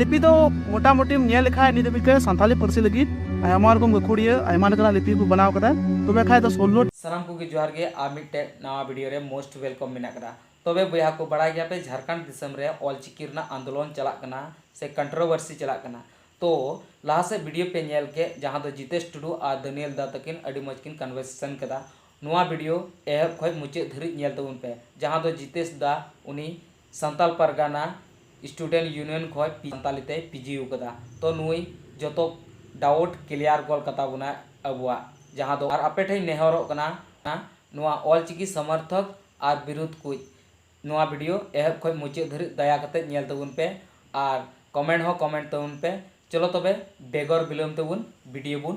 ᱞᱤᱯᱤ ᱫᱚ ᱢᱚᱴᱟᱢᱩᱴᱤᱢ ᱧᱮᱞ ᱞᱮᱠᱷᱟᱡ ᱱᱤᱛ ᱫᱷᱟᱹᱵᱤᱡ ᱛᱮ ᱥᱟᱱᱛᱟᱞᱤ ᱯᱟᱹᱨᱥᱤ ᱞᱟᱹᱜᱤᱫ ᱟᱭᱢᱟ ᱨᱚᱠᱚᱢ ᱜᱟᱹᱠᱷᱩᱲᱤᱭᱟᱹ ᱟᱭᱢᱟ ᱞᱮᱠᱟᱱᱟᱜ ᱞᱤᱯᱤ ᱠᱚ ᱵᱮᱱᱟᱣ ᱠᱟᱫᱟ ᱛᱚᱵᱮ ᱠᱷᱟᱡ ᱫᱚ ᱥᱳᱞᱞᱳ ᱥᱟᱱᱟᱢ ᱠᱚᱜᱮ ᱡᱚᱦᱟᱨ ᱜᱮ ᱟᱨ ᱢᱤᱫᱴᱮᱡ ᱱᱟᱣᱟ ᱵᱷᱤᱰᱤᱭᱳ ᱨᱮ ᱢᱳᱥᱴ ᱣᱮᱞᱠᱚᱢ ᱢᱮᱱᱟᱜ ᱠᱟᱫᱟ ᱛᱚᱵᱮ ᱵᱚᱭᱦᱟ ᱠᱚ ᱵᱟᱲᱟᱭ ᱜᱮᱭᱟ ᱯᱮ ᱡᱷᱟᱨᱠᱷᱚᱸᱰ ᱫᱤᱥᱚᱢ ᱨᱮ ᱚᱞᱪᱤᱠᱤ ᱨᱮᱱᱟᱜ ᱟᱱᱫᱳᱞᱚᱱ ᱪᱟᱞᱟᱜ ᱠᱟᱱᱟ ᱥᱮ ᱠᱚᱱᱴᱨᱳᱵᱷᱟᱨᱥᱤ ᱪᱟᱞᱟᱜ ᱠᱟᱱᱟ ᱛᱚ ᱞᱟᱦᱟ ᱥᱮᱫ ᱵᱷᱤᱰᱤᱭᱳ ᱯᱮ ᱧᱮᱞ ᱠᱮᱫ ᱡᱟᱦᱟᱸ ᱫᱚ ᱡᱤᱛᱮᱥ ᱴᱩᱰᱩ ᱟᱨ ᱫᱟᱹᱱᱤᱭᱮᱞ ᱫᱟ ᱛᱟᱹᱠᱤᱱ ᱟᱹᱰᱤ ᱢᱚᱡᱽ ᱠᱤᱱ ᱠᱚᱱᱵᱷᱟᱨᱥᱮᱥᱚᱱ ᱠᱮᱫᱟ ᱱᱚᱣᱟ ᱵᱷᱤᱰᱤᱭᱳ ᱮᱦᱚᱵ ᱠᱷᱚᱡ ᱢᱩᱪᱟᱹᱫ ᱫᱷᱟᱹᱨᱤᱡ ᱧᱮᱞ ᱛᱟᱵᱚᱱ ᱯᱮ ᱡᱟᱦᱟᱸ ᱫᱚ ᱡᱤᱛᱮᱥ ᱫᱟ ᱩᱱᱤ ᱥᱟᱱᱛᱟᱞ ᱯᱟᱨᱜᱟᱱᱟ ᱥᱴᱩᱰᱮᱱᱴ ᱭᱩᱱᱤᱭᱚᱱ ᱠᱷᱚᱡ ᱯᱤ ᱥᱟᱱᱛᱟᱞᱤ ᱛᱮᱭ ᱯᱤᱡᱤ ᱟᱠᱟᱫᱟ ᱛᱚ ᱱᱩᱭ ᱡᱚᱛᱚ ᱰᱟᱣᱩᱴ ᱠᱞᱤᱭᱟᱨ ᱜᱚᱞ ᱠᱟᱛᱟ ᱵᱚᱱᱟᱭ ᱟᱵᱚᱣᱟᱜ ᱡᱟᱦᱟᱸ ᱫᱚ ᱟᱨ ᱟᱯᱮ ᱴᱷᱮᱡ ᱤᱧ ᱱᱮᱦᱚᱨᱚᱜ ᱠᱟᱱᱟ ᱱᱚᱣᱟ ᱚᱞ ᱪᱤᱠᱤ ᱥᱚᱢᱚᱨᱛᱷᱚᱠ ᱟᱨ ᱵᱤᱨᱩᱫᱷ ᱠᱩᱡ ᱱᱚᱣᱟ ᱵᱷᱤᱰᱤᱭᱳ ᱮᱦᱚᱵ ᱠᱷᱚᱡ ᱢᱩᱪᱟᱹᱫ ᱫᱷᱟᱹᱨᱤᱡ ᱫᱟᱭᱟ ᱠᱟᱛᱮ ᱧᱮᱞ ᱛᱟᱵᱚᱱ ᱯᱮ ᱟᱨ ᱠᱚᱢᱮᱱᱴ ᱦᱚᱸ ᱠᱚᱢᱮᱱᱴ ᱛᱟᱵᱚᱱ ᱯᱮ ᱪᱚᱞᱚ ᱛᱚᱵᱮ ᱵᱮᱜᱚᱨ ᱵᱤᱞᱚᱢ ᱛᱮᱵᱚᱱ ᱵᱷᱤᱰᱤᱭᱳ ᱵᱚᱱ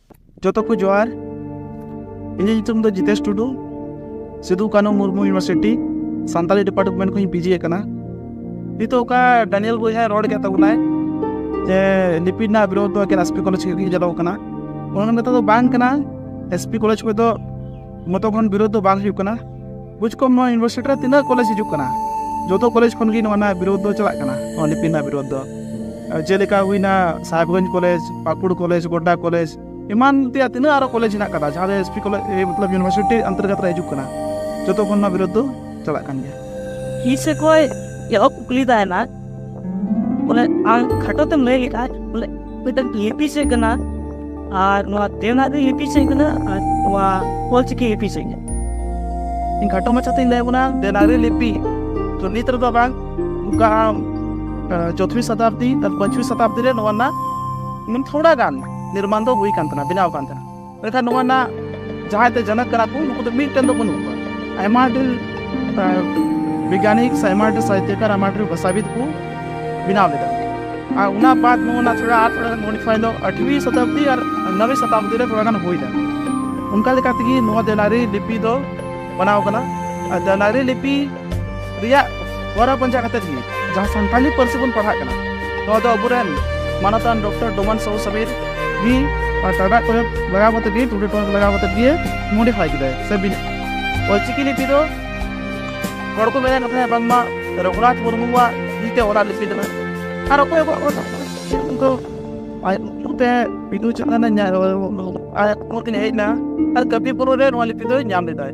ᱡᱚᱛᱚ ᱠᱚ ᱡᱚᱦᱟᱨ ᱤᱧᱟᱹᱜ ᱧᱩᱛᱩᱢ ᱫᱚ ᱡᱤᱛᱮᱥ ᱴᱩᱰᱩ ᱥᱤᱫᱩ ᱠᱟᱹᱱᱩ ᱢᱩᱨᱢᱩ ᱤᱭᱩᱱᱤᱵᱷᱟᱨᱥᱤᱴᱤ ᱥᱟᱱᱛᱟᱲᱤ ᱰᱤᱯᱟᱨᱴᱢᱮᱱᱴ ᱠᱷᱚᱱᱤᱧ ᱯᱤᱡᱤ ᱟᱠᱟᱱᱟ ᱱᱤᱛᱚᱜ ᱚᱠᱟ ᱰᱟᱱᱤᱭᱮᱞ ᱵᱚᱭᱦᱟᱭ ᱨᱚᱲ ᱠᱮᱫ ᱛᱟᱵᱚᱱᱟᱭ ᱡᱮ ᱞᱤᱯᱤ ᱨᱮᱱᱟᱜ ᱵᱤᱨᱳᱫᱷ ᱫᱚ ᱮᱠᱮᱱ ᱮᱥᱯᱤ ᱠᱚᱞᱮᱡᱽ ᱜᱮ ᱪᱟᱞᱟᱣ ᱠᱟᱱᱟ ᱚᱱᱟ ᱠᱟᱛᱷᱟ ᱫᱚ ᱵᱟᱝ ᱠᱟᱱᱟ ᱮᱥᱯᱤ ᱠᱚᱞᱮᱡᱽ ᱠᱷᱚᱱ ᱫᱚ ᱢᱚᱛᱚ ᱠᱷᱚᱱ ᱵᱤᱨᱳᱫᱷ ᱫᱚ ᱵᱟᱝ ᱦᱩᱭᱩᱜ ᱠᱟᱱᱟ ᱵᱩᱡᱽ ᱠᱚᱢ ᱱᱚᱣᱟ ᱤᱭᱩᱱᱤᱵᱷᱟᱨᱥᱤᱴᱤ ᱨᱮ ᱛᱤᱱᱟᱹᱜ ᱠᱚᱞᱮᱡᱽ ᱦᱤᱡᱩᱜ ᱠᱟᱱᱟ ᱡᱚᱛᱚ ᱠᱚᱞᱮᱡᱽ ᱠᱷᱚᱱ ᱜᱮ ᱱᱚᱣᱟ ᱨᱮᱱᱟᱜ ᱵᱤᱨᱳᱫᱷ ᱫᱚ ᱪᱟᱞᱟᱜ ᱠᱟᱱᱟ ᱱᱚᱣᱟ ᱞᱤᱯᱤ ᱨᱮᱱᱟᱜ ᱵᱤᱨᱳᱫᱷ ᱫᱚ ᱡᱮᱞᱮᱠᱟ ᱦᱩᱭᱱᱟ Sahebganj college Pakur college Godda college ᱮᱢᱟᱱ ᱛᱮᱭᱟᱜ ᱛᱤᱱᱟᱹᱜ ᱟᱨᱚ ᱠᱚᱞᱮᱡᱽ ᱦᱮᱱᱟᱜ ᱠᱟᱫᱟ ᱡᱟᱦᱟᱸ ᱫᱚ ᱮᱥ ᱯᱤ ᱠᱚᱞᱮᱡᱽ ᱢᱚᱛᱞᱚᱵ ᱤᱭᱩᱱᱤᱵᱷᱟᱨᱥᱤᱴᱤ ᱚᱱᱛᱚᱨᱜᱚᱛ ᱨᱮ ᱦᱤᱡᱩᱜ ᱠᱟᱱᱟ ᱡᱚᱛᱚ ᱠᱷᱚᱱ ᱱᱚᱣᱟ ᱵᱤᱨᱳᱫᱷ ᱫᱚ ᱪᱟᱞᱟᱜ ᱠᱟᱱ ᱜᱮᱭᱟ ᱤᱧ ᱥᱮᱫ ᱠᱷᱚᱱ ᱮᱦᱚᱵ ᱠᱩᱠᱞᱤ ᱛᱟᱦᱮᱱᱟ ᱵᱚᱞᱮ ᱟᱢ ᱠᱷᱟᱴᱚ ᱛᱮᱢ ᱞᱟᱹᱭ ᱞᱮᱠᱷᱟᱡ ᱵᱚᱞᱮ ᱢᱤᱫᱴᱟᱝ ᱞᱤᱯᱤ ᱪᱮᱫ ᱠᱟᱱᱟ ᱟᱨ ᱱᱚᱣᱟ ᱫᱮᱣᱱᱟᱜᱨᱤ ᱞᱤᱯᱤ ᱪᱮᱫ ᱠᱟᱱᱟ ᱟᱨ ᱱᱚᱣᱟ ᱚᱞᱪᱤᱠᱤ ᱞᱤᱯᱤ ᱪᱮᱫ ᱠᱟᱱᱟ ᱤᱧ ᱠᱷᱟᱴᱚ ᱢᱟᱪᱷᱟᱛᱮᱧ ᱞᱟᱹᱭ ᱵᱚᱱᱟ ᱫᱮᱣᱱᱟᱜᱨᱤ ᱞᱤᱯᱤ ᱛᱚ ᱱᱤᱛ ᱨᱮᱫᱚ ᱵᱟᱝ ᱱᱚᱝᱠᱟ ᱟᱢ ᱪᱚᱛᱷᱩᱭ ᱥᱚᱛᱟᱵᱫᱤ ᱟᱨ ᱯᱟᱸᱪᱩᱭ ᱥᱚᱛᱟᱵᱫᱤ ᱨᱮ ᱱᱚᱣᱟ ᱨᱮᱱᱟᱜ ᱛᱷᱚᱲᱟ ᱜᱟᱱ ᱱᱤᱨᱢᱟᱱ ᱫᱚ ᱦᱩᱭ ᱠᱟᱱ ᱛᱟᱦᱮᱱᱟ ᱵᱮᱱᱟᱣ ᱠᱟᱱ ᱛᱟᱦᱮᱱᱟ ᱢᱮᱱᱠᱷᱟᱱ ᱱᱚᱣᱟ ᱨᱮᱱᱟᱜ ᱡᱟᱦᱟᱸᱭ ᱛᱮ ᱡᱟᱱᱟᱜ ᱠᱟᱱᱟ ᱠᱚ ᱱᱩᱠᱩ ᱫᱚ ᱢᱤᱫᱴᱮᱱ ᱫᱚ ᱵᱟᱹᱱᱩᱜ ᱠᱚᱣᱟ ᱟᱭᱢᱟ ᱰᱷᱮᱨ ᱵᱤᱜᱽᱜᱟᱱᱤᱠ ᱥᱮ ᱟᱭᱢᱟ ᱰᱷᱮᱨ ᱥᱟᱦᱤᱛᱭᱚᱠᱟᱨ ᱟᱭᱢᱟ ᱰᱷᱮᱨ ᱵᱷᱟᱥᱟᱵᱤᱫ ᱠᱚ ᱵᱮᱱᱟᱣ ᱞᱮᱫᱟ ᱟᱨ ᱚᱱᱟ ᱵᱟᱫ ᱱᱚᱣᱟ ᱛᱷᱚᱲᱟ ᱟᱨ ᱛᱷᱚᱲᱟ ᱢᱚᱰᱤᱯᱷᱟᱭ ᱫᱚ ᱟᱴᱷᱣᱤ ᱥᱚᱛᱟᱵᱫᱤ ᱟᱨ ᱱᱚᱵᱮ ᱥᱚᱛᱟᱵᱫᱤ ᱨᱮ ᱛᱷᱚᱲᱟ ᱜᱟᱱ ᱦᱩᱭᱱᱟ ᱚᱱᱠᱟ ᱞᱮᱠᱟ ᱛᱮᱜᱮ ᱱᱚᱣᱟ ᱫᱮᱣᱱᱟᱜᱨᱤ ᱞᱤᱯᱤ ᱫᱚ ᱵᱮᱱᱟᱣ ᱠᱟᱱᱟ ᱟᱨ ᱫᱮᱣᱱᱟᱜᱨᱤ ᱞᱤᱯᱤ ᱨᱮᱭᱟᱜ ᱦᱚᱨᱟ ᱯᱟᱸᱡᱟ ᱠᱟᱛᱮ ᱜᱮ ᱡᱟᱦᱟᱸ ᱥᱟᱱᱛᱟᱲᱤ ᱯᱟᱹᱨᱥᱤ ᱵᱚᱱ ᱯᱟᱲᱦᱟᱜ ᱠᱟᱱᱟ ᱱᱚᱣᱟ ᱫᱚ ᱟᱵᱚᱨᱮᱱ ᱢᱟᱱᱚᱛᱟᱱ ᱰᱚᱠᱴᱚᱨ ᱰᱚᱢᱟᱱ ᱥᱟᱦᱩ ᱥᱟᱵᱤᱨ ᱜᱮ ᱴᱟᱰᱟ ᱠᱚᱨᱮ ᱞᱟᱜᱟᱣ ᱠᱟᱛᱮ ᱜᱮ ᱴᱩᱰᱮ ᱴᱚᱱ ᱞᱟᱜᱟᱣ ᱠᱟᱛᱮ ᱜᱮ ᱢᱚᱰᱤᱯᱷᱟᱭ ᱠᱮᱫᱟᱭ ᱥᱮ ᱚᱞᱪᱤᱠᱤ ᱞᱤᱯᱤ ᱫᱚ ᱦᱚᱲ ᱠᱚ ᱢᱮᱱᱮᱫ ᱠᱟᱱᱟ ᱵᱟᱝᱢᱟ ᱨᱚᱜᱷᱩᱱᱟᱛᱷ ᱢᱩᱨᱢᱩᱣᱟᱜ ᱛᱤᱛᱮ ᱚᱞᱟᱜ ᱞᱤᱯᱤ ᱠᱟᱱᱟ ᱟᱨ ᱚᱠᱚᱭ ᱚᱠᱚᱭ ᱚᱞ ᱩᱱᱠᱩ ᱟᱡ ᱛᱮ ᱵᱤᱫᱩ ᱪᱟᱸᱫᱟᱱ ᱟᱡ ᱢᱩᱨᱛᱤ ᱦᱮᱡ ᱮᱱᱟ ᱟᱨ ᱠᱟᱹᱯᱤ ᱯᱩᱨᱩ ᱨᱮ ᱱᱚᱣᱟ ᱞᱤᱯᱤ ᱫᱚᱭ ᱧᱟᱢ ᱞᱮᱫᱟᱭ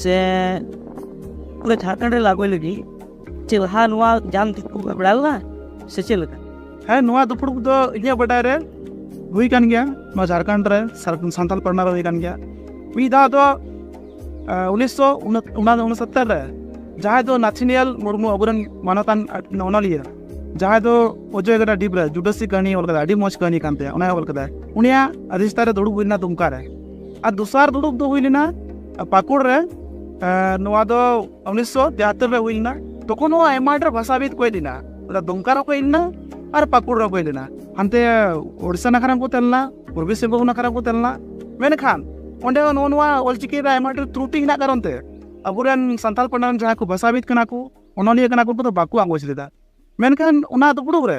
ᱥᱮ ᱯᱩᱨᱟᱹ ᱡᱷᱟᱲᱠᱷᱚᱸᱰ ᱨᱮ ᱞᱟᱜᱚᱭ ᱞᱟᱹᱜᱤᱫ ᱪᱮᱫ ᱞᱟᱦᱟ ᱱᱚᱣᱟ ᱡᱟᱢ ᱫᱩᱯᱲᱩ ᱵᱟᱲᱟ ᱞᱮᱱᱟ ᱥᱮ ᱪᱮᱫ ᱞᱮᱠᱟ ᱦᱮᱸ ᱱᱚᱣᱟ ᱫᱩᱯᱲᱩ ᱫᱚ ᱤᱧᱟᱹᱜ ᱵᱟᱰᱟᱭ ᱨᱮ ᱦᱩᱭ ᱠᱟᱱ ᱜᱮᱭᱟ ᱱᱚᱣᱟ ᱡᱷᱟᱲᱠᱷᱚᱸᱰ ᱨᱮ ᱥᱟᱱᱛᱟᱞ ᱯᱟᱨᱜᱟᱱᱟ ᱨᱮ ᱦᱩᱭ ᱠᱟᱱ ᱜᱮᱭᱟ ᱢᱤᱫ ᱫᱷᱟᱣ ᱫᱚ ᱩᱱᱤᱥᱥᱚ ᱩᱱᱥᱚᱛᱛᱚᱨ ᱨᱮ ᱡᱟᱦᱟᱸᱭ ᱫᱚ ᱱᱟᱛᱷᱤᱱᱤᱭᱟᱞ ᱢᱩᱨᱢᱩ ᱟᱵᱚᱨᱮᱱ ᱢᱟᱱᱚᱛᱟᱱ ᱚᱱᱚᱞᱤᱭᱟᱹ ᱡᱟᱦᱟᱸᱭ ᱫᱚ ᱚᱡᱚᱭ ᱜᱟᱰᱟ ᱰᱤᱯ ᱨᱮ ᱡᱩᱰᱟᱹᱥᱤ ᱠᱟᱹᱦᱱᱤ ᱚᱞ ᱠᱟᱫᱟᱭ ᱟᱹᱰᱤ ᱢᱚᱡᱽ ᱠᱟᱹᱦᱱᱤ ᱠᱟᱱ ᱛᱟᱭᱟ ᱚᱱᱟᱭ ᱚᱞ ᱠᱟᱫᱟᱭ ᱩᱱᱤᱭᱟᱜ ᱟᱫᱷᱤᱥᱛᱷᱟᱱ ᱨᱮ ᱫᱩᱲᱩᱵ ᱦᱩᱭ ᱞᱮᱱᱟ ᱫᱩᱢᱠᱟ ᱨᱮ ᱟᱨ ᱫᱚᱥᱟᱨ ᱫᱩᱲᱩᱵ ᱫᱚ ᱦᱩᱭ ᱞᱮᱱᱟ ᱯᱟᱹᱠᱩᱲ ᱨᱮ ᱱᱚᱣᱟ ᱫᱚ ᱩᱱᱤᱥᱥᱚ ᱛᱮᱦᱟᱛᱛᱚᱨ ᱨᱮ ᱦᱩᱭ ᱞᱮᱱᱟ ᱛᱚᱠᱷᱚᱱ ᱦᱚᱸ ᱟᱭᱢᱟ ᱰᱷᱮᱨ ᱵᱷᱟᱥᱟᱵᱤᱫ ᱠᱚ ᱦᱮᱡ ᱞᱮᱱᱟ ᱚᱱᱟ ᱫᱩᱢᱠᱟ ᱨᱮᱠᱚ ᱦᱮᱡ ᱞᱮᱱᱟ ᱟᱨ ᱯᱟᱹᱠᱩᱲ ᱨᱮᱠᱚ ᱦᱮᱡ ᱞᱮᱱᱟ ᱦᱟᱱᱛᱮ ᱳᱰᱤᱥᱟ ᱱᱟᱠᱷᱟ ᱨᱮᱠᱚ ᱛᱟᱦᱮᱸ ᱞᱮᱱᱟ ᱯᱩᱨᱵᱤ ᱥᱤᱝᱵᱷᱩᱢ ᱱᱟᱠᱷᱟ ᱨᱮᱠᱚ ᱛᱟᱦᱮᱸ ᱞᱮᱱᱟ ᱢᱮᱱᱠᱷᱟᱱ ᱚᱸᱰᱮ ᱦᱚᱸ ᱱᱚᱜᱼᱚ ᱱᱚᱣᱟ ᱚᱞᱪᱤᱠᱤ ᱨᱮ ᱟᱭᱢᱟ ᱰᱷᱮᱨ ᱛᱨᱩᱴᱤ ᱦᱮᱱᱟᱜ ᱠᱟᱨᱚᱱ ᱛᱮ ᱟᱵᱚᱨᱮᱱ ᱥᱟᱱᱛᱟᱲ ᱯᱟᱱᱰᱟᱨᱮᱱ ᱡᱟᱦᱟᱸᱭ ᱠᱚ ᱵᱷᱟᱥᱟᱵᱤᱫ ᱠᱟᱱᱟ ᱠᱚ ᱚᱱᱚᱞᱤᱭᱟᱹ ᱠᱟᱱᱟ ᱠᱚ ᱩᱱᱠᱩ ᱫᱚ ᱵᱟᱠᱚ ᱟᱸᱜᱚᱪ ᱞᱮᱫᱟ ᱢᱮᱱᱠᱷᱟᱱ ᱚᱱᱟ ᱫᱩᱯᱲᱩᱵ ᱨᱮ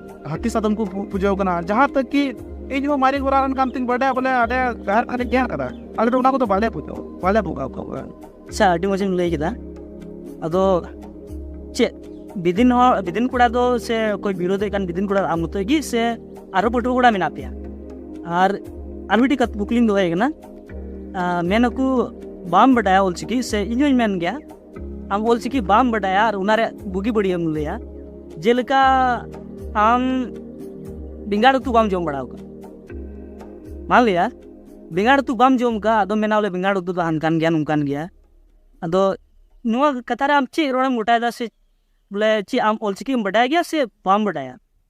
ᱦᱟᱹᱛᱤ ᱥᱟᱫᱚᱢ ᱠᱚ ᱯᱩᱡᱟᱹᱣ ᱠᱟᱱᱟ ᱡᱟᱦᱟᱸ ᱛᱟᱹᱠ ᱠᱤ ᱤᱧ ᱦᱚᱸ ᱢᱟᱨᱮ ᱜᱚᱨᱟ ᱨᱮᱱ ᱠᱟᱱ ᱛᱤᱧ ᱵᱟᱰᱟᱭᱟ ᱵᱚᱞᱮ ᱟᱞᱮ ᱰᱟᱦᱟᱨ ᱠᱷᱟᱱᱤᱧ ᱧᱮᱞ ᱠᱟᱫᱟ ᱟᱞᱮ ᱫᱚ ᱚᱱᱟ ᱠᱚᱫᱚ ᱵᱟᱞᱮ ᱯᱩᱡᱟᱹᱣ ᱵᱟᱞᱮ ᱵᱚᱸᱜᱟ ᱠᱚᱣᱟ ᱟᱪᱪᱷᱟ ᱟᱹᱰᱤ ᱢᱚᱡᱽ ᱮᱢ ᱞᱟᱹᱭ ᱠᱮᱫᱟ ᱟᱫᱚ ᱪᱮᱫ ᱵᱤᱫᱤᱱ ᱦᱚᱲ ᱵᱤᱫᱤᱱ ᱠᱚᱲᱟ ᱫᱚ ᱥᱮ ᱚᱠᱚᱭ ᱵᱤᱨᱳᱫᱷᱮᱫ ᱠᱟᱱ ᱵᱤᱫᱤᱱ ᱠᱚᱲᱟ ᱟᱢ ᱢᱚᱛᱚ ᱜᱮ ᱥᱮ ᱟᱨᱚ ᱯᱟᱹᱴᱷᱩᱣᱟᱹ ᱠᱚᱲᱟ ᱢᱮᱱᱟᱜ ᱯᱮᱭᱟ ᱟᱨ ᱟᱨ ᱢᱤᱫᱴᱤᱡ ᱠᱩᱠᱞᱤᱧ ᱫᱚᱦᱚᱭ ᱠᱟᱱᱟ ᱢᱮᱱᱟᱠᱚ ᱵᱟᱢ ᱵᱟᱰᱟᱭᱟ ᱚᱞᱪᱤᱠᱤ ᱥᱮ ᱤᱧ ᱦᱚᱸᱧ ᱢᱮᱱ ᱜᱮᱭᱟ ᱟᱢ ᱚᱞᱪᱤᱠᱤ ᱵᱟᱢ ᱵᱟᱰᱟᱭᱟ ᱟᱨ ᱚᱱᱟ ᱨᱮ ᱵᱩᱜᱤ ᱵᱟᱹᱲᱤᱡ ᱮᱢ ᱞᱟᱹᱭᱟ ᱡᱮᱞᱮᱠᱟ ᱟᱢ ᱵᱮᱸᱜᱟᱲ ᱩᱛᱩ ᱵᱟᱢ ᱡᱚᱢ ᱵᱟᱲᱟᱣ ᱠᱟᱜ ᱢᱟ ᱞᱟᱹᱭᱟ ᱵᱮᱸᱜᱟᱲ ᱩᱛᱩ ᱵᱟᱢ ᱡᱚᱢ ᱠᱟᱜ ᱟᱫᱚ ᱢᱮᱱᱟ ᱵᱚᱞᱮ ᱵᱮᱸᱜᱟᱲ ᱩᱛᱩ ᱫᱚ ᱦᱟᱱᱠᱟᱱ ᱜᱮᱭᱟ ᱱᱚᱝᱠᱟᱱ ᱜᱮᱭᱟ ᱟᱫᱚ ᱱᱚᱣᱟ ᱠᱟᱛᱷᱟ ᱨᱮ ᱟᱢ ᱪᱮᱫ ᱨᱚᱲᱮᱢ ᱜᱚᱴᱟᱭᱮᱫᱟ ᱥᱮ ᱵᱚᱞᱮ ᱪᱮᱫ ᱟᱢ ᱚᱞᱪᱤᱠᱤᱢ ᱵᱟᱰᱟᱭ ᱜᱮᱭᱟ ᱥᱮ ᱵᱟᱢ ᱵᱟᱰᱟᱭᱟ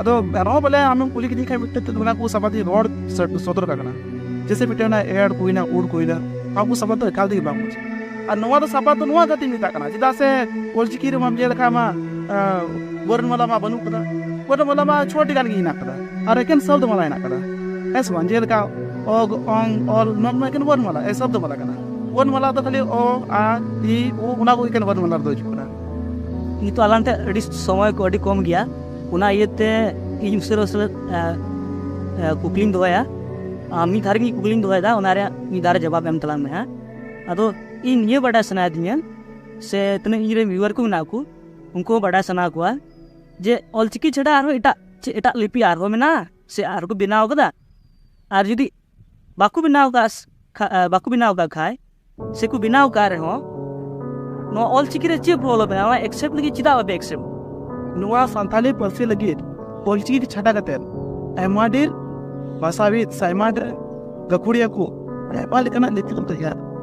ᱟᱫᱚ ᱮᱱᱨᱮᱦᱚᱸ ᱵᱚᱞᱮ ᱟᱢᱮᱢ ᱠᱩᱞᱤ ᱠᱤᱫᱤᱧ ᱠᱷᱟᱱ ᱢᱤᱫᱴᱮᱱ ᱚᱱᱟ ᱠᱚ ᱥᱟᱵᱟᱫ ᱤᱧ ᱨᱚᱲ ᱥᱚᱫᱚᱨ ᱠᱟᱜ ᱠᱟᱱᱟ ᱡᱮᱥᱮ ᱢᱤᱫᱴᱮᱱ ᱚᱱᱟ ᱮᱲ ᱠᱚᱭᱱᱟ ᱩᱲ ᱠᱚᱭᱱᱟ ᱱᱚᱣᱟ ᱠᱚ ᱥᱟᱵᱟᱫ ᱫᱚ ᱮᱠᱟᱞ ᱛᱮᱜᱮ ᱵᱟᱝ ᱢᱚᱡᱽ ᱟᱨ ᱱᱚᱣᱟ ᱫᱚ ᱥᱟᱵᱟᱫ ᱫᱚ ᱱᱚᱣᱟ ᱠᱷᱟᱹᱛᱤᱨ ᱢᱮᱛᱟᱜ ᱠᱟᱱᱟ ᱪᱮᱫᱟᱜ ᱥᱮ ᱚᱞᱪᱤᱠᱤ ᱨᱮᱢᱟᱢ ᱧᱮᱞ ᱞᱮᱠᱷᱟᱱ ᱢᱟ ᱵᱚᱨᱱᱢᱟᱞᱟ ᱢᱟ ᱵᱟᱹᱱᱩᱜ ᱠᱟᱫᱟ ᱵᱚᱨᱱᱢᱟᱞᱟ ᱢᱟ ᱪᱷᱚᱴᱤ ᱜᱟᱱ ᱜᱮ ᱦᱮᱱᱟᱜ ᱠᱟᱫᱟ ᱟᱨ ᱮᱠᱮᱱ ᱥᱟᱵᱫ ᱢᱟᱞᱟ ᱦᱮᱱᱟᱜ ᱠᱟᱫᱟ ᱦᱮᱸ ᱥᱮ ᱵᱟᱝ ᱡᱮᱞᱮᱠᱟ ᱚᱜ ᱚᱝ ᱚᱞ ᱱᱚᱣᱟ ᱢᱟ ᱮᱠᱮᱱ ᱵᱚᱨᱱᱢᱟᱞᱟ ᱮ ᱥᱟᱵᱫ ᱢᱟᱞᱟ ᱠᱟᱱᱟ ᱵᱚᱨᱱᱢᱟᱞᱟ ᱫᱚ ᱠᱷᱟᱹᱞᱤ ᱚ ᱟ ᱤ ᱩ ᱚᱱᱟ ᱠᱚ ᱮᱠᱮᱱ ᱵᱚᱨᱱᱢᱟᱞᱟ ᱨᱮᱫᱚ ᱦᱤᱡᱩᱜ ᱠᱟᱱᱟ ᱱᱤᱛᱚᱜ ᱟᱞᱟᱝ ᱴᱷᱮᱱ ᱟᱹᱰᱤ ᱥᱚᱢᱚᱭ ᱠᱚ ᱟᱹᱰᱤ ᱠᱚᱢ ᱜᱮᱭᱟ ᱚᱱᱟ ᱤᱭᱟᱹᱛᱮ ᱤᱧ ᱩᱥᱟᱹᱨᱟ ᱩᱥᱟᱹᱨᱟ ᱠᱩᱠᱞᱤᱧ ᱫᱚᱦᱚᱭᱟ ᱢᱤᱫ ᱫᱷᱟᱣ ᱨᱮᱜᱮ ᱠᱩᱠᱞᱤᱧ ᱫᱚᱦᱚᱭᱮᱫᱟ ᱚᱱᱟ ᱨᱮᱭᱟᱜ ᱢᱤᱫ ᱫᱷᱟᱣ ᱨᱮ ᱡᱚᱵᱟᱵ ᱮᱢ ᱛᱟᱞᱟᱝ ᱢᱮ ᱦᱟᱸᱜ ᱟᱫᱚ ᱤᱧ ᱱᱤᱭᱟᱹ ᱵᱟᱰᱟᱭ ᱥᱟᱱᱟᱭᱮᱫᱤᱧᱟ ᱥᱮ ᱛᱤᱱᱟᱹᱜ ᱤᱧ ᱨᱮᱱ ᱵᱷᱤᱣᱟᱨ ᱠᱚ ᱢᱮᱱᱟᱜ ᱠᱚ ᱩᱱᱠᱩ ᱦᱚᱸ ᱵᱟᱰᱟᱭ ᱥᱟᱱᱟ ᱠᱚᱣᱟ ᱡᱮ ᱚᱞᱪᱤᱠᱤ ᱪᱷᱟᱰᱟ ᱟᱨᱦᱚᱸ ᱮᱴᱟᱜ ᱪᱮᱫ ᱮᱴᱟᱜ ᱞᱤᱯᱤ ᱟᱨᱦᱚᱸ ᱢᱮᱱᱟᱜᱼᱟ ᱥᱮ ᱟᱨᱦᱚᱸ ᱠᱚ ᱵᱮᱱᱟᱣ ᱠᱟᱫᱟ ᱟᱨ ᱡᱩᱫᱤ ᱵᱟᱠᱚ ᱵᱮᱱᱟᱣ ᱠᱟᱜ ᱵᱟᱠᱚ ᱵᱮᱱᱟᱣ ᱠᱟᱜ ᱠᱷᱟᱡ ᱥᱮᱠᱚ ᱵᱮᱱᱟᱣ ᱠᱟᱜ ᱨᱮᱦᱚᱸ ᱱᱚᱣᱟ ᱚᱞ ᱪᱤᱠᱤ ᱨᱮ ᱪᱮᱫ ᱯᱨᱚᱵᱞᱮᱢ ᱢᱮᱱᱟᱜᱼᱟ ᱱᱚᱣᱟ ᱮᱠᱥᱮᱯᱴ ᱞᱟᱹᱜᱤᱫ ᱪᱮᱫᱟᱜ ᱵᱟᱯᱮ ᱮᱠᱥᱮᱯᱴ ᱱᱚᱣᱟ ᱥᱟᱱᱛᱟᱞᱤ ᱯᱟᱹᱨᱥᱤ ᱞᱟᱹᱜᱤᱫ ᱚᱞ ᱪᱤᱠᱤ ᱪᱷᱟᱰᱟ ᱠᱟᱛᱮ ᱟᱭᱢᱟ ᱰᱷᱮᱨ ᱵᱷᱟᱥᱟᱵᱤᱫ ᱥᱮ ᱟᱭᱢᱟ ᱰᱷᱮᱨ ᱜᱟᱹᱠᱷᱩᱲᱤᱭᱟᱹ ᱠᱚ ᱟᱭᱢᱟ ᱞᱮᱠᱟᱱᱟᱜ ᱞᱤᱯᱤ ᱠᱚ ᱛᱮᱭᱟᱨ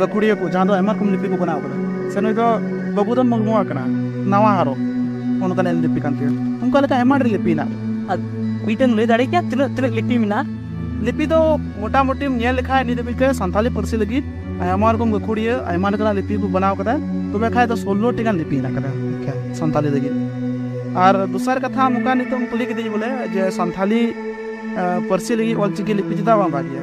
ᱜᱟᱹᱠᱷᱩᱲᱤᱭᱟᱹ ᱠᱚ ᱡᱟᱦᱟᱸ ᱫᱚ ᱟᱭᱢᱟ ᱨᱚᱠᱚᱢ ᱞᱤᱯᱤ ᱠᱚ ᱵᱮᱱᱟᱣ ᱟᱠᱟᱫᱟ ᱥᱮ ᱱᱩᱭ ᱫᱚ ᱵᱟᱹᱵᱩᱫᱷᱚᱱ ᱢᱩᱨᱢᱩᱣᱟᱜ ᱠᱟᱱᱟ ᱱᱟᱣᱟ ᱦᱟᱨᱚ ᱚᱱᱠᱟᱱ ᱮᱞ ᱞᱤᱯᱤ ᱠᱟᱱ ᱛᱟᱭᱟ ᱚᱱᱠᱟ ᱞᱮᱠᱟ ᱟᱭᱢᱟ ᱰᱷᱮᱨ ᱞᱤᱯᱤ ᱦᱮᱱᱟᱜ ᱟᱨ ᱢᱤᱫᱴᱮᱱ ᱞᱟᱹᱭ ᱫᱟᱲᱮ ᱠᱮᱭᱟ ᱛᱤᱱᱟᱹᱜ ᱛᱤᱱᱟᱹᱜ ᱞᱤᱯᱤ ᱢᱮᱱᱟᱜᱼᱟ ᱞᱤᱯᱤ ᱫᱚ ᱢᱚᱴᱟᱢᱩᱴᱤᱢ ᱧᱮᱞ ᱞᱮᱠᱷᱟᱡ ᱱᱤᱛ ᱫᱷᱟᱹᱵᱤᱡ ᱛᱮ ᱥᱟᱱᱛᱟᱞᱤ ᱯᱟᱹᱨᱥᱤ ᱞᱟᱹᱜᱤᱫ ᱟᱭᱢᱟ ᱨᱚᱠᱚᱢ ᱜᱟᱹᱠᱷᱩᱲᱤᱭᱟᱹ ᱟᱭᱢᱟ ᱞᱮᱠᱟᱱᱟᱜ ᱞᱤᱯᱤ ᱠᱚ ᱵᱮᱱᱟᱣ ᱠᱟᱫᱟ ᱛᱚᱵᱮ ᱠᱷᱟᱡ ᱫᱚ ᱥᱳᱞᱞᱳ ᱴᱤ ᱜᱟᱱ ᱞᱤᱯᱤ ᱦᱮᱱᱟᱜ ᱠᱟᱫᱟ ᱥᱟᱱᱛᱟᱞᱤ ᱞᱟᱹᱜᱤᱫ ᱟᱨ ᱫᱚᱥᱟᱨ ᱠᱟᱛᱷᱟ ᱱᱚᱝᱠᱟ ᱱᱤᱛᱚᱜ ᱠᱩᱞᱤ ᱠᱤᱫᱤᱧ ᱵᱚᱞᱮ ᱡᱮ ᱥᱟᱱᱛᱟᱞᱤ ᱯᱟᱹᱨᱥᱤ ᱞᱟᱹᱜᱤᱫ ᱚᱞᱪᱤᱠᱤ ᱞᱤᱯᱤ ᱪᱮᱫᱟᱜ ᱵᱟᱝ ᱵᱷᱟᱜᱮᱭᱟ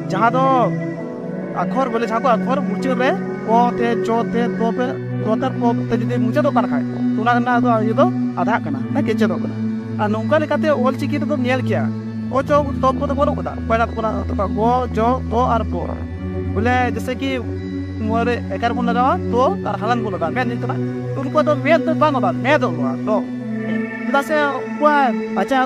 ᱡᱟᱦᱟᱸ ᱫᱚ ᱟᱠᱷᱚᱨ ᱵᱚᱞᱮ ᱡᱟᱦᱟᱸ ᱠᱚ ᱟᱠᱷᱚᱨ ᱢᱩᱪᱟᱹᱫ ᱨᱮ ᱠᱚ ᱛᱮ ᱪᱚ ᱛᱮ ᱛᱚ ᱯᱮ ᱛᱚ ᱛᱮ ᱯᱚ ᱛᱮ ᱡᱩᱫᱤ ᱢᱩᱪᱟᱹᱫᱚᱜ ᱠᱟᱱ ᱠᱷᱟᱡ ᱛᱚ ᱚᱱᱟ ᱨᱮᱱᱟᱜ ᱫᱚ ᱤᱭᱟᱹ ᱫᱚ ᱟᱫᱷᱟᱜ ᱠᱟᱱᱟ ᱥᱮ ᱠᱮᱪᱮᱫᱚᱜ ᱠᱟᱱᱟ ᱟᱨ ᱱᱚᱝᱠᱟ ᱞᱮᱠᱟᱛᱮ ᱚᱞ ᱪᱤᱠᱤ ᱨᱮᱫᱚᱢ ᱧᱮᱞ ᱠᱮᱭᱟ ᱚ ᱪᱚ ᱛᱚ ᱯᱚ ᱫᱚ ᱵᱟᱹᱱᱩᱜ ᱠᱟᱫᱟ ᱯᱚᱭᱞᱟ ᱛᱚ ᱯᱚᱭᱞᱟ ᱛᱚ ᱜᱚ ᱡᱚ ᱛᱚ ᱟᱨ ᱯᱚ ᱵᱚᱞᱮ ᱡᱮᱥᱮ ᱠᱤ ᱱᱚᱣᱟ ᱨᱮ ᱮᱠᱟᱨ ᱵᱚᱱ ᱞᱟᱜᱟᱣᱟ ᱛᱚ ᱟᱨ ᱦᱟᱞᱟᱱ ᱵᱚᱱ ᱞᱟᱜᱟᱣᱟ ᱢᱮᱫ ᱧᱩᱛᱩᱢ ᱛᱚ ᱩᱱᱠᱩ ᱫᱚ ᱢᱮᱫ ᱫᱚ ᱵᱟᱝ ᱚᱞᱚᱜᱼᱟ ᱢᱮᱫᱚᱜᱼᱟ ᱛᱚ ᱪᱮᱫᱟᱜ ᱥᱮ ᱩᱱᱠᱩᱣᱟᱜ ᱟᱪᱟᱨ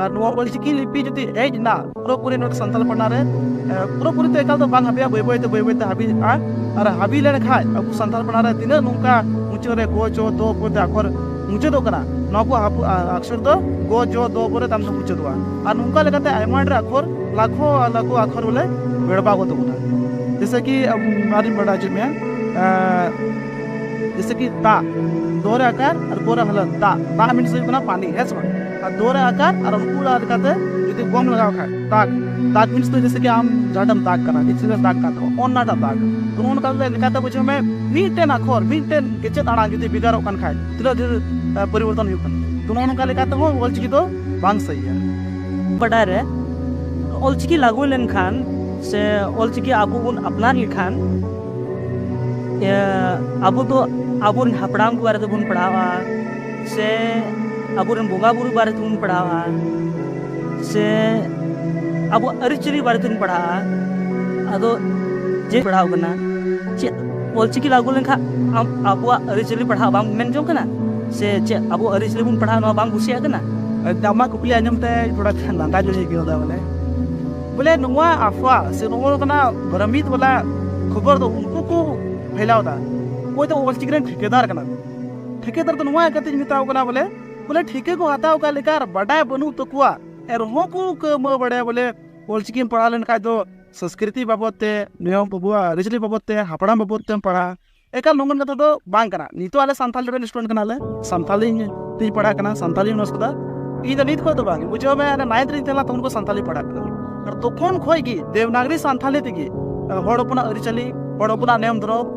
ᱟᱨ ᱱᱚᱣᱟ ᱚᱞᱪᱤᱠᱤ ᱞᱤᱯᱤ ᱡᱩᱫᱤ ᱦᱮᱡ ᱮᱱᱟ ᱯᱩᱨᱟᱹᱯᱩᱨᱤ ᱱᱚᱣᱟ ᱥᱟᱱᱛᱟᱲ ᱯᱟᱲᱟ ᱨᱮ ᱯᱩᱨᱟᱹᱯᱩᱨᱤ ᱛᱮ ᱮᱠᱟᱞ ᱫᱚ ᱵᱟᱝ ᱦᱟᱹᱵᱤᱜᱼᱟ ᱵᱟᱹᱭ ᱵᱟᱹᱭ ᱛᱮ ᱵᱟᱹᱭ ᱵᱟᱹᱭ ᱛᱮ ᱦᱟᱹᱵᱤᱜᱼᱟ ᱟᱨ ᱦᱟᱹᱵᱤ ᱞᱮᱱᱠᱷᱟᱡ ᱟᱵᱚ ᱥᱟᱱᱛᱟᱲ ᱯᱟᱲᱟ ᱨᱮ ᱛᱤᱱᱟᱹᱜ ᱱᱚᱝᱠᱟ ᱢᱩᱪᱟᱹᱫ ᱨᱮ ᱜᱚ ᱪᱚ ᱫᱚ ᱯᱚᱨᱮ ᱟᱠᱷᱚᱨ ᱢᱩᱪᱟᱹᱫᱚᱜ ᱠᱟᱱᱟ ᱱᱚᱣᱟ ᱠᱚ ᱟᱠᱷᱚᱨ ᱫᱚ ᱜᱚ ᱡᱚ ᱫᱚ ᱯᱚᱨᱮ ᱛᱟᱭᱚᱢ ᱛᱮ ᱢᱩᱪᱟᱹᱫᱚᱜᱼᱟ ᱟᱨ ᱱᱚᱝᱠᱟ ᱞᱮᱠᱟᱛᱮ ᱟᱭᱢᱟ ᱰᱷᱮᱨ ᱟᱠᱷᱚᱨ ᱞᱟᱠᱷᱚ ᱞᱟᱠᱷᱚ ᱟᱠᱷᱚᱨ ᱵᱚᱞᱮ ᱵᱮᱲᱵᱟᱣ ᱜᱚᱫᱚᱜ ᱠᱟᱱᱟ ᱡᱮᱥᱮ ᱠᱤ ᱟᱵᱚ ᱟᱨᱤᱧ ᱵᱟᱰᱟᱭ ᱦᱚᱪᱚ ᱢᱮᱭᱟ ᱡᱮᱥᱮ ᱠᱤ ᱫᱟᱜ ᱫᱚ ᱨᱮ ᱟᱠᱟᱨ ᱟᱨ ᱜᱚ ᱨᱮ ᱦᱟᱞᱟᱛ ᱫᱟᱜ ᱫᱟᱜ ᱢᱤᱱᱥ ᱦᱩᱭᱩᱜ ᱠᱟᱱᱟ ᱯᱟᱱᱤ ᱦᱮᱸ ᱥᱮ ᱵᱟᱝ ᱟᱨ ᱫᱚ ᱨᱮ ᱟᱠᱟᱨ ᱟᱨ ᱩᱱᱠᱩ ᱚᱲᱟᱜ ᱞᱮᱠᱟᱛᱮ ᱡᱩᱫᱤ ᱜᱚᱢ ᱞᱟᱜᱟᱣ ᱠᱷᱟᱡ ᱫᱟᱜᱽ ᱫᱟᱜᱽ ᱢᱤᱱᱥ ᱫᱚ ᱡᱮᱥᱮ ᱠᱤ ᱟᱢ ᱡᱟᱦᱟᱸᱴᱟᱢ ᱫᱟᱜᱽ ᱠᱟᱱᱟ ᱱᱤᱪᱮ ᱨᱮ ᱫᱟᱜᱽ ᱠᱟᱱ ᱛᱟᱢᱟ ᱚᱱᱟᱴᱟᱜ ᱫᱟᱜᱽ ᱛᱚ ᱚᱱᱠᱟ ᱞᱮᱠᱟᱛᱮ ᱵᱩᱡᱷᱟᱹᱣ ᱢᱮ ᱢᱤᱫᱴᱮᱱ ᱟᱠᱷᱚᱨ ᱢᱤᱫᱴᱮᱱ ᱠᱮᱪᱮᱫ ᱟᱲᱟᱝ ᱡᱩᱫᱤ ᱵᱷᱮᱜᱟᱨᱚᱜ ᱠᱟᱱ ᱠᱷᱟᱡ ᱛᱤᱱᱟᱹᱜ ᱰᱷᱮᱨ ᱯᱚᱨᱤᱵᱚᱨᱛᱚᱱ ᱦᱩᱭᱩᱜ ᱠᱟᱱᱟ ᱛᱚ ᱱᱚᱜᱼᱚ ᱱᱚᱝᱠᱟ ᱞᱮᱠᱟᱛᱮ ᱦᱚᱸ ᱚᱞᱪᱤᱠᱤ ᱫᱚ ᱵᱟᱝ ᱥᱟᱹᱦᱤᱭᱟ ᱵᱟᱰᱟᱭ ᱨᱮ ᱚᱞᱪᱤᱠᱤ ᱞᱟᱹᱜᱩ ᱞᱮᱱᱠᱷᱟᱱ ᱥᱮ ᱚᱞᱪᱤᱠᱤ ᱟᱵᱚ ᱵᱚᱱ ᱟᱯᱱᱟᱨ ᱞᱮᱠᱷᱟᱱ ᱟᱵᱚ ᱫᱚ ᱟᱵᱚᱨᱮᱱ ᱦᱟᱯᱲᱟᱢ ᱠᱚᱣᱟᱜ ᱨᱮᱫᱚ ᱵᱚᱱ ᱯᱟᱲᱦᱟᱣᱟ ᱥᱮ ᱟᱵᱚᱨᱮᱱ ᱵᱚᱸᱜᱟ ᱵᱩᱨᱩ ᱵᱟᱨᱮ ᱛᱮᱵᱚᱱ ᱯᱟᱲᱦᱟᱜᱼᱟ ᱥᱮ ᱟᱵᱚᱣᱟᱜ ᱟᱹᱨᱤᱪᱟᱹᱞᱤ ᱵᱟᱨᱮ ᱛᱮᱵᱚᱱ ᱯᱟᱲᱦᱟᱜᱼᱟ ᱟᱫᱚ ᱡᱮ ᱯᱟᱲᱦᱟᱣ ᱠᱟᱱᱟ ᱪᱮᱫ ᱚᱞᱪᱤᱠᱤ ᱞᱟᱜᱩ ᱞᱮᱱᱠᱷᱟᱱ ᱟᱢ ᱟᱵᱚᱣᱟᱜ ᱟᱹᱨᱤᱪᱟᱹᱞᱤ ᱯᱟᱲᱦᱟᱜ ᱵᱟᱢ ᱢᱮᱱ ᱡᱚᱝ ᱠᱟᱱᱟ ᱥᱮ ᱪᱮᱫ ᱟᱵᱚ ᱟᱹᱨᱤᱪᱟᱹᱞᱤ ᱵᱚᱱ ᱯᱟᱲᱦᱟᱜ ᱱᱚᱣᱟ ᱵᱟᱢ ᱠᱩᱥᱤᱭᱟᱜ ᱠᱟᱱᱟ ᱟᱢᱟᱜ ᱠᱩᱠᱞᱤ ᱟᱸᱡᱚᱢ ᱛᱮ ᱛᱷᱚᱲᱟ ᱜᱟᱱ ᱞᱟᱸᱫᱟ ᱧᱚᱜ ᱤᱧ ᱟᱹᱭᱠᱟᱹᱣ ᱮᱫᱟ ᱵᱚᱞᱮ ᱵᱚᱞᱮ ᱱᱚᱣᱟ ᱟᱯᱷᱣᱟ ᱥᱮ ᱱᱚᱜᱼᱚ ᱱᱚᱝᱠᱟᱱᱟᱜ ᱵᱷᱨᱚᱢᱤᱛ ᱵᱟᱞᱟ ᱠᱷᱚᱵᱚᱨ ᱫᱚ ᱩᱱᱠᱩ ᱠᱚ ᱯᱷᱮᱞᱟᱣ ᱮᱫᱟ ᱚᱠᱚᱭ ᱫᱚ ᱚᱞᱪᱤᱠᱤ ᱨᱮᱱ ᱴᱷᱤᱠᱟᱹᱫᱟᱨ ᱠᱟᱱᱟ ᱠᱚ ᱴᱷᱤᱠᱟᱹᱫᱟᱨ ᱫᱚ ᱱᱚᱣᱟ ᱠᱟᱛᱮᱧ ᱢᱮᱛᱟᱣ ᱠᱟᱱᱟ ᱵᱚᱞᱮ ᱵᱚᱞᱮ ᱴᱷᱤᱠᱟᱹ ᱠᱚ ᱦᱟᱛᱟᱣ ᱠᱟᱜ ᱞᱮᱠᱟ ᱟᱨ ᱵᱟᱰᱟᱭ ᱵᱟᱹᱱᱩᱜ ᱛᱟᱠᱚᱣᱟ ᱮᱱᱨᱮᱦᱚᱸ ᱠᱚ ᱠᱟᱹᱢᱟᱹ ᱵᱟᱲᱟᱭᱟ ᱵᱚᱞᱮ ᱚᱞᱪᱤᱠᱤᱢ ᱯᱟᱲᱦᱟᱣ ᱞᱮᱱᱠᱷᱟᱡ ᱫᱚ ᱥᱚᱸᱥᱠᱨᱤᱛᱤ ᱵᱟᱵᱚᱫ ᱛᱮ ᱱᱤᱭᱚᱢ ᱟᱵᱚᱣᱟᱜ ᱟᱹᱨᱤᱪᱟᱹᱞᱤ ᱵᱟᱵᱚᱫ ᱛᱮ ᱦᱟᱯᱲᱟᱢ ᱵᱟᱵᱚᱫ ᱛᱮᱢ ᱯᱟᱲᱦᱟᱜᱼᱟ ᱮᱠᱟᱞ ᱱᱚᱝᱠᱟᱱ ᱠᱟᱛᱷᱟ ᱫᱚ ᱵᱟᱝ ᱠᱟᱱᱟ ᱱᱤᱛᱚᱜ ᱟᱞᱮ ᱥᱟᱱᱛᱟᱞ ᱨᱮᱱ ᱥᱴᱩᱰᱮᱱᱴ ᱠᱟᱱᱟᱞᱮ ᱥᱟᱱᱛᱟᱞᱤ ᱛᱤᱧ ᱯᱟᱲᱦᱟᱜ ᱠᱟᱱᱟ ᱥᱟᱱᱛᱟᱞᱤ ᱚᱱᱟᱨᱥ ᱠᱟᱫᱟ ᱤᱧ ᱫᱚ ᱱᱤᱛ ᱠᱷᱚᱡ ᱫᱚ ᱵᱟᱝ ᱵᱩᱡᱷᱟᱹᱣ ᱢᱮ ᱟᱞᱮ ᱱᱟᱭᱤᱱᱛᱷ ᱨᱤᱧ ᱛᱟᱦᱮᱸ ᱞᱮᱱᱟ ᱛᱚᱠᱷᱚᱱ ᱠᱚ ᱥᱟᱱᱛᱟᱞᱤ ᱯᱟᱲᱦᱟᱜ ᱠᱟᱱᱟ ᱟᱨ ᱛᱚᱠᱷᱚᱱ ᱠᱷᱚᱡ ᱜᱮ ᱫᱮᱵᱽᱱᱟᱜᱽᱨᱤ ᱥᱟᱱᱛᱟᱞᱤ ᱛᱮᱜᱮ ᱦᱚᱲ ᱦᱚᱯᱚᱱᱟᱜ ᱟᱹᱨᱤᱪᱟᱹᱞᱤ ᱦᱚᱲ ᱦᱚᱯᱚᱱᱟᱜ ᱱᱤᱭᱚᱢ ᱫᱷᱚᱨᱚᱢ